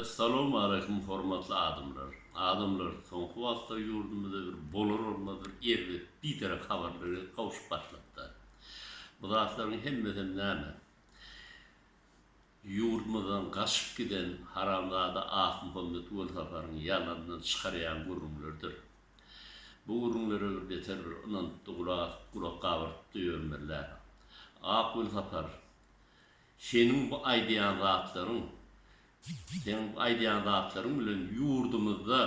Essalamu aleýkum hormatly adamlar. Adamlar soňky wagtlar ýurdumyzda bir bolar bolmaz bir erbet biderek habarlar gelip gawşyp başlapda. Bu zatlaryň hemmesem näme? Ýurdumyzdan gaçyp giden haramzada Akmuhammet Welsaparyň ýalandan çykarýan gürrüňleridir. Bu gürrüňlere bir beter bir ynanypdy gulak asyp gulak gabartypda ýörmeliräk. Ak Welsapar Seniň bu aýdýan zatlaryň Seniň bu aýdýan zatlaryň bilen ýurdumyzda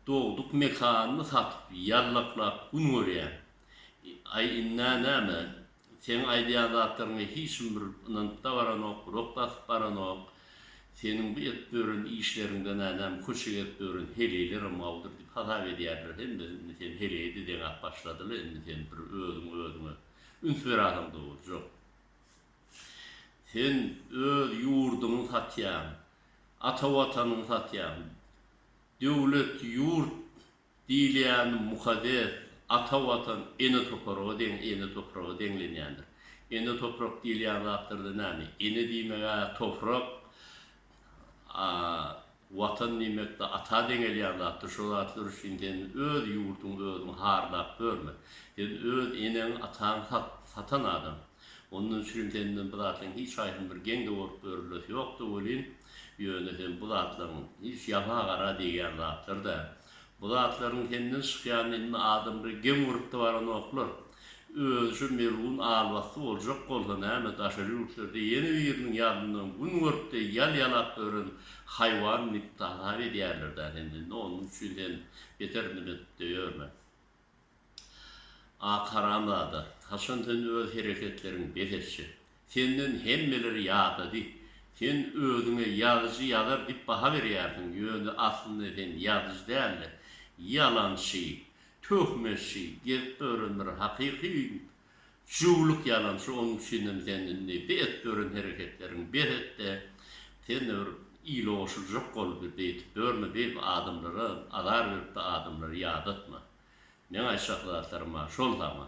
dogduk mekanymy satyp ýallaklap gün görýän. Aý indä näme Seniň aýdýan zatlaryňa hiçim bir ynanypda baranok gulak basyp baranok. Seniň bu edip ýören işleriňdenä näme köçe gezip ýören heleýlerem gowudyr diýip hasap edýärler hemme indi sen heleýe dizeňäp başladyla indi sen bir özüň özüňe üns beräsiň dogry jok. Sen öz ýurduňy satýaň, ata Watanyňy satýaň. Döwlet, ýurt diýilýän mukades ata Watan ene toparga deň, ene topraga deňlenýändir. Ene toprak diýilýän zatlarda näme? Ene diýmeg-ä toprak. Watan diýmekde ata deňelýän zatdyr, şo zatlar üçin sen öz ýurduňy özüň harlap ýörme. Sen öz eneňi, ataňy sat, satan adam. Ondan üçin senden bu zatlaryň hiç haýsyny bir geň de bolup görülesi ýokdur welin, ýöne sen bu zatlaryň hiç ýaba-gara degýän zatlar däl. Bu zatlaryň henden çykýanyny indi adamlar geň görüp-de baranoklar. Özi şu melgun albasty boljak bolsa näme, daşary ýurtlarda ýene biriniň ýadyndan gün görüp-de ýal ýalap ören haýwan diýip-de hasap edýärler-dä hende, indi onuň üçin sen beter indi metdide ýörme. Ak haramzada, haçan sen öz hereketleriňi bes etjek? Senden hemmeler ýadady. Sen özüňe ýazyjy ýazar diýip baha berýärsiň, ýöne aslynda sen ýazyjy däl-de, ýalançy, töhmetçi, gezip öwrenmeli hakyky Jüwlük ýalançy onuň üçinem sen indi bi edip ýören hereketleriňi bes etde sende bir ile goşuljak bolup bir beýtip ýörme beýp adamlara azar beripde adamlary ýadatma meň aýtjak zatlarym bar şol saňa.